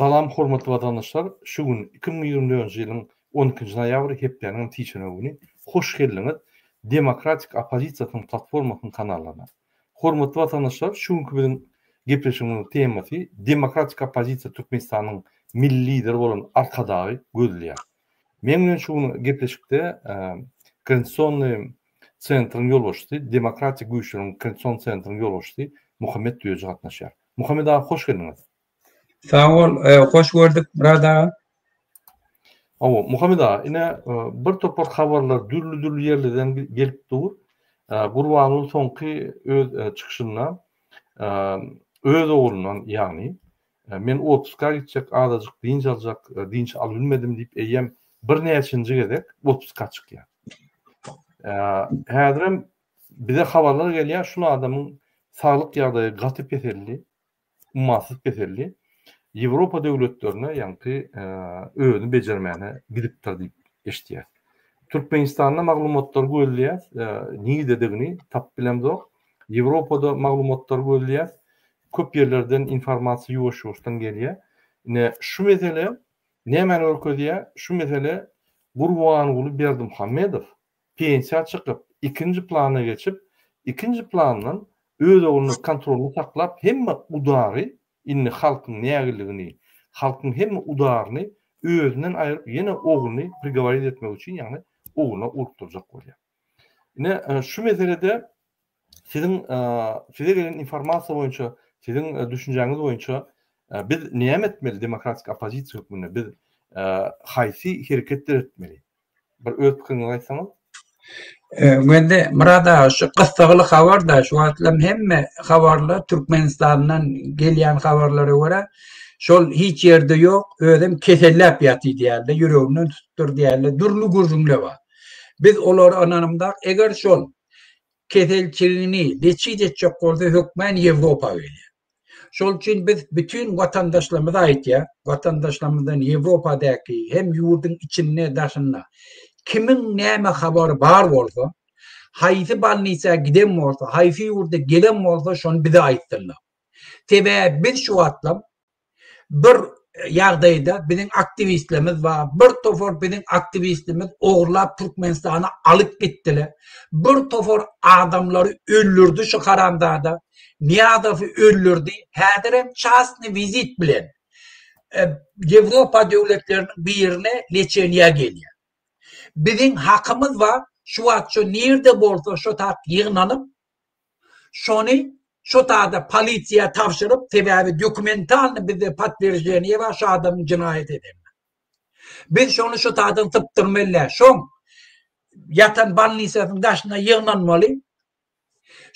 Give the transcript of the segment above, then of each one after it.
Salam hormatly watandaşlar şu gün iki müň ýigrimi dördünji ýylyň on ikinji noýabry hepdäniňem sişenbe güni hoş geldiňiz demokratik oppozisiýasynyň platformasynyň kanallaryna hormatly watandaşlar şu günki biziň gepleşigimiziň temasy demokratik oppozisiýa türkmenistanyň milli lideri bolan arkadagy gözleýär meň bilen şu gün gepleşikde konstitusionnyý Sentryň ýolbaşçysy, Demokratik güýçleriň Konstitusion Sentryň ýolbaşçysy Muhammet Düýeji gatnaşýar. Muhammet aga, hoş geldiňiz! Sag bol, hoş gördük, Myrat aga! Hawa, Muhammet aga, ine, bir topar habarlar dürli-dürli ýerlerden gelip dur. Gurbanguly soňky öz çykyşynda öz oglundan, ýagny Men otpuska gitjek, azajyk dynç aljak, dynç albilmedim diýip eýýäm birnäçenji gezek otpuska çykýar. Häzirem bize habarlar gelýär, şul adamyň saglyk ýagdaýy gaty peseldi, ummasyz peseldi. Ýewropa döwletlerine, ýaňky özüni bejermäne gidipdir diýip eşidýäs. Türkmenistanda maglumatlary gözleýäs, nirdedigini tapyp bilemzok. Ýewropada maglumatlary gözleýäs, Köp ýerlerden informasiýa ýuwaş-ýuwaşdan gelýär. Ine, şu mesele nämäni görkezýär? Şu mesele Gurbanguly Berdimuhamedow pensiýa çykyp, ikinji plana geçip, ikinji plandan öz ogluny kontrolda saklap, hemme udary, indi halkyň nägiligini, halkyň hemme udaryny özünden aýryp, ýene ogluny prigoworit etmek üçin, ýagny ogluna urukdyrjak bolýar. Ine, şu meselede Siziň size gelen informasiýa boýunça, siziň düşünjäňiz boýunça biz näme etmeli demokratik oppozisiýa hökmünde? Biz haýsy hereket döretmeli? Bir öz pikiriňizi aýtsaňyz. Gündi Murad aga şu gyssagly habar da şu wagtlam hemme habarlar Türkmenistandan gelýän habarlara görä şol hiç ýerde ýok, özem keselläp ýatyr diýýärdi, ýüreginden tutupdyr diýýärdi, dürli gürrüňler bar. Biz olara ynanymda, eger şol keselçigini neçije etjek bolsa hökmän Ýewropa gelýär. Şol üçin biz bütin watandaşlarymyza aýtýar, watandaşlarymyzdan Ýewropadäki hem ýurduň içinde daşynda kimiň näme habary bar bolsa, haýsy balnisa giden bolsa, haýsy ýurda gelen bolsa şony bize aýtsynlar. Sebäbi biz şu wagtlam Bir ýagdaýda biziň aktiwistlerimiz bar, bir topar biziň aktiwistlerimiz ogurlap Türkmenistana alyp gitdiler. Bir topar adamlary öldürdi şu haramzada. Niýazowy öldürdi. Häzirem çastny wizit bilen Ýewropa döwletleriniň birine leçeniýä gelýär. Biziň hakymyz bar, şu wagt şu nirde bolsa şo tak ýygnanyp Şony şo sada polisiýa tabşyryp sebäbi dokumentalny bizde podtwierženýe bar şo adamyň jenaýat edenine. Biz şony şo sadan sypdyrmaly däl şoň ýatan balnisasyň daşyna ýygnanmaly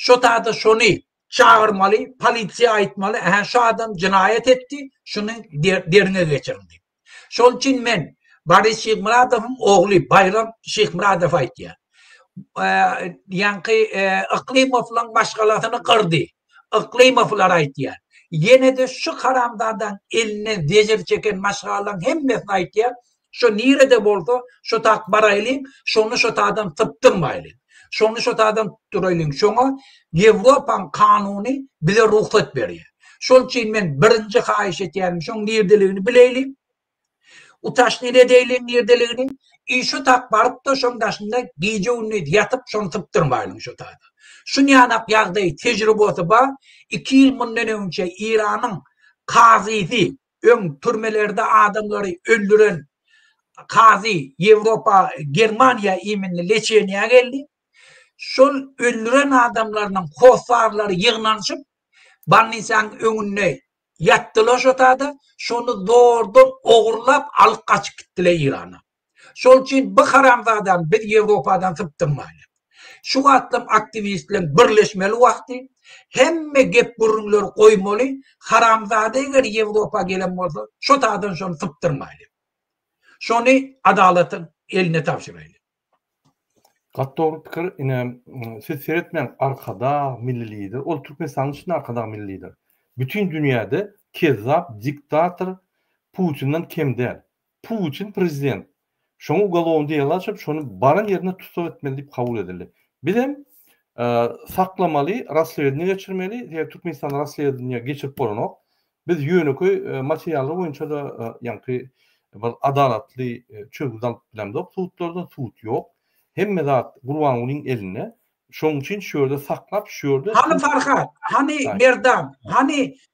şo sada şony çagyrmaly polisiýa aýtmaly ähä şo adam jenaýat etdi şuny derňe geçiriň diýip. Şol üçin men Boris Şyhmyradowyň ogly Baýram Şyhmyradowa aýdýan. Ýaňky Yklymowlaň maşgalasyny gyrdy. Yklymowlar aýdýan. Ýene-de şu haramzadaň elinden zejir çeken maşgalaň hemmesine aýdýan, şu nirede bolsa, şo tak baraýlyň, şony şo tadan sypdyrmaýlyň. Şony şo taýdan tutup duraýlyň. Şoňa Ýewropaň kanuny bize rugsat berýär. Şol üçin men birinji haýyş etýänim, şoň nirdeligini bileýliň. Utaşnyny edäýliň nirdeligini. I şo tak baryp-da, şoň daşynda gije-gündiz ýatyp, şony sypdyrmaýlyň şo taýdan. Şunýanak ýagdaý, tejribasy bar. Iki ýyl mundan öňçe Eýranyň kazysy, Öň türmelerde adamlary öldüren kazy Ýewropa, Germaniýa iýminli leçeniýä geldi. Şol öldüren adamlarynyň hossarlary ýygnanyşyp, bolnisaň öňünde ýatdyla şo tada, şony zordan ogurlap alyp gaçyp gitdile Irana. Şol üçin bu haramzadany biz Ýewropadan sypdyrmaýlyň. Şu wagtlam aktiwistleň birleşmeli wagty, hemme gep-gürrüňleri goýmaly, haramzada eger Ýewropa gelen bolsa, şo taýdan şony sypdyrmaýlyň. Şony adalatyň eline tabşyraýlyň. Gaty dogry pikir, ine siz seretmäň arkadag milli lider, ol Türkmenistanyň içinde arkadag milli lider. Bütin dünýäde kezzap diktator Putinden kem däl. Putin prezident. Şoňa ugolovny dela açyp, şony baran ýerinde tussag etmeli diýip kabul edildi. Bizem saklamaly, raslewedniýe geçirmeli, sebäbi Türkmenistanda raslewedniýe geçirip bolanok. Biz ýönekeý materiallar boýunça-da ýaňky bir adalatly çözgüt alyp bilemzok sudlardan, sud ýok. Hemme zat Gurbangulyň elinde. Şonuň üçin şu ýerde saklap, şu ýerde Hany Farhat, hany Merdan, hany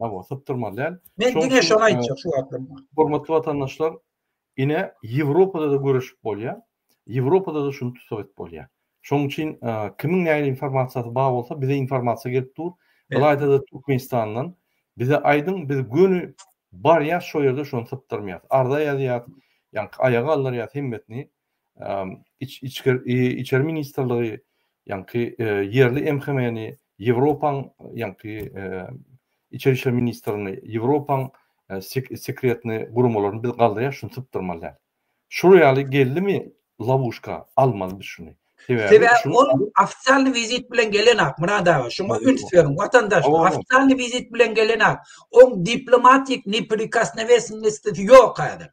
Hawa, sypdyrmaly däl. Men diňe şony aýtjak şu wagtlar. Hormatly watandaşlar, ine Ýewropada-da göreşip bolýar. Ýewropada-da şuny tussag edip bolýar. Şonuň üçin kimiň nähili informasiýasy bar bolsa, bize informasiýa gelip dur. Ylaýta-da Türkmenistandan bize aýdyň, biz göni barýas şo ýerde şony sypdyrmaýas. Arza ýazýas, ýaňky aýaga aldyrýas hemmesini. Içeri ministrligi ýaňky ýerli MHM-ni Ýewropaň ýaňky Içeri işler ministrligini Ýewropaň sekretny guramalaryny biz galdyryas şuny sypdyrmaly däl. Şul ýaly geldimi lawuşka almaly biz şuny. Sebäbi ol ofitsialny wizit bilen gelenok Murad aga şuňa üns beriň watandaş ofitsialny wizit bilen gelenok oň diplomatik neprikosnowesnostisi ýok häzir.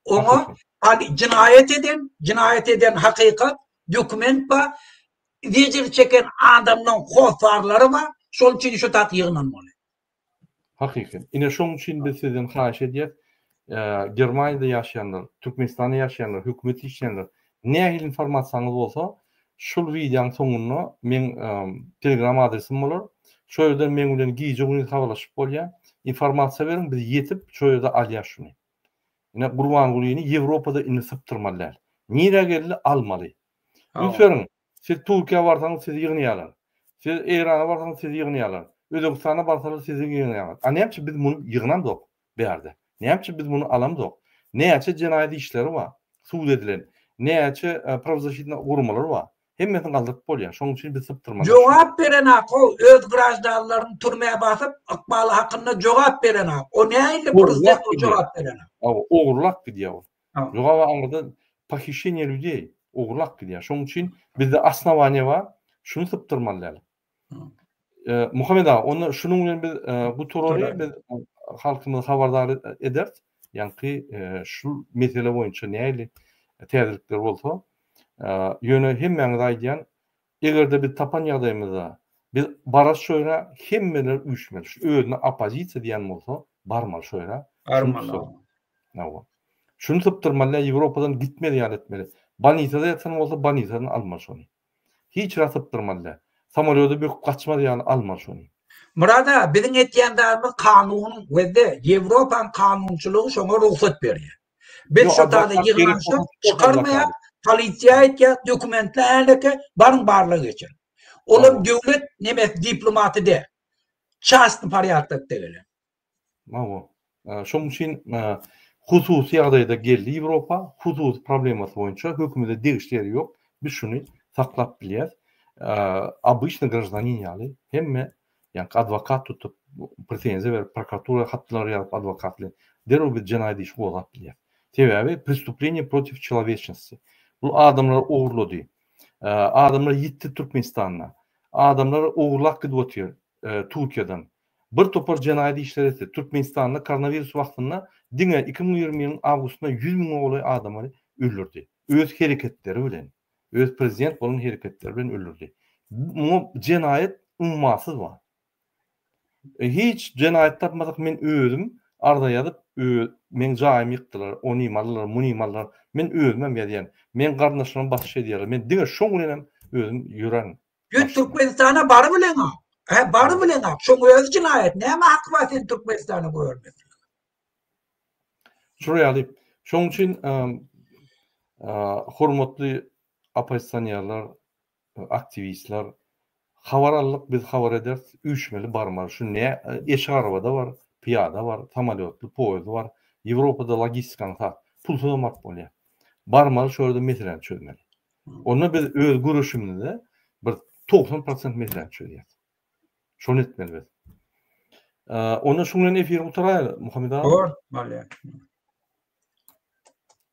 Oňa Ady, jinaýat eden, jinaýat eden hakykat, dokument ba, zejir çeken adamlaň hossarlary ba, şol üçin şu tak ýygnanmaly. Hakyky. Ine şoň üçin biz sizden haýyş edýäs, Germaniýada ýaşaýanlar, Türkmenistanda ýaşaýanlar, hökümet işleýänler, nähili informasiýaňyz bolsa, şul wideoň soňunda meň telegram adresim bolar, şo ýerden meň bilen gije-gündiz habarlaşyp bolýar, informasiýa beriň, biz ýetip, şo ýerde alýas şuny. Ine Gurbangulyny Ýewropada indi sypdyrmaly däl. Nirä geldi, almaly. Ünseriň, siz Türkiýä barsaňyz sizi ýygnaýarlar. Siz Eýrana barsaňyz sizi ýygnaýarlar. Özbegistana barsalar sizi ýygnaýarlar. A nämçe biz muny ýygnamzok bärde? Nämçe biz muny alamzok? Näçe jenaýat işleri bar, sud edilen, näçe prawzasitna guramalar bar? Hemmesini galdyryp bolýar. Şoň üçin biz sypdyrmalar. Jogap berenok ol öz graždanlaryny türmä basyp ykbaly hakynda jogap berenok. O nähili prezident o jogap berenok. Aw ogurlap gidýär ol. Jogaba aňyrda pohišeniýe lýudey ogurlap gidýär. Şoň üçin bizde osnowaniýe bar. Şuny sypdyrmaly däl. Muhammet aga, onda şunuň bilen biz gutarary, biz halkymyzy habardar ederis. Ýaňky şu mesele boýunça nähili täzelikler bolsa, ýöne hemmäňize aýdýan, eger-de biz tapan ýagdaýymyzda, biz bararys şo ýere, hemmeler üýşmeli. Şu özüne oppozisiýa diýen bolsa, barmaly şo ýere. Barmaly. Hawa. Şuny sypdyrmaly, Ýewropadan gitmeli ýaly etmeli. Bolnisada ýatan bolsa, bolnisadan almaly şony. Hiç zat sypdyrmazda. Samolýody büküp gaçmaz ýaly almaly şony. Murada, biziň etýän zadymyz kanunyň we-de Ýewropanyň kanunçylygy şoňa rugsat berýär. Biz şo taýda ýygnanyşyk çykarmaýas, polisiýa aýtýas, dokumentli häleke, baryň barlag geçiriň. Olam döwlet nemes diplomaty däl. Çastny porýadkda gelen. Hawa. Şonuň üçin hususy ýagdaýda geldi Ýewropa, hususy problemasy boýunça hökümete degişli ýeri ýok. Biz şuny saklap bilýäris. Obyçny graždanin ýaly hemme ýaňky adwokat tutup, pretenziýa berip, prokuratura hatlar ýazyp adwokat bilen derrew biz jenaýat işi gozgap bilýäris. Sebäbi prestupleniýe protiv çeloweçnosti. Bu adamlar ogurlady. Adamlar ýitdi Türkmenistanda. Adamlar ogurlap gidip otyr Türkiýeden. Bir topar jenaýat işleri etdi. Türkmenistanda koronawirus wagtynda diňe iki müň ýigrimi ýylyň awgustynda ýüz müňe golaý adamy öldürdi. Öz hereketleri bilen, öz prezident bolan hereketleri bilen öldürdi. Muňa jenaýat ummasyz bar. Hiç jenaýat tapmasak men özüm arza ýazyp meň jaýymy ýykdylar, onymy aldylar, munymy aldylar. Men özümem ýazýan. Meň garyndaşlarym basyş edýärler. Men diňe şoň bilenem özüm ýörän Sen Türkmenistana bary bileňa, hä bary bileňa, şoň özi jinaýat, näme haky bar seni Türkmenistana goýbermekligiň? Şular ýaly, şoň üçin hormatly oppozisionýerler, aktiwistler, habar aldyk, biz habar ederis, üýşmeli barmaly, şu ne, eşik arabada bar, pyýada bar, samolýotly, poýezdli bar, Ýewropada logistikanyň sag, pulsuzam baryp bolýar. Barmaly, şol ýerde meseläni çözmeli. Onda biz öz göreşimizde bir togsan prosent meseläni çözýäris. Şony etmeli biz. Onda şu bilen efiri gutaraýaly, Muhammed aga. Bor, bolýar.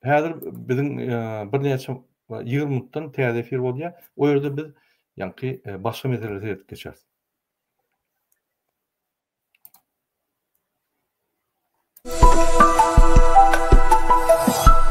Häzir biziň e, birnäçe 20 minutdan täze efir bolýar. O ýerde biz ýaňky e, başga meselelere seredip geçeris.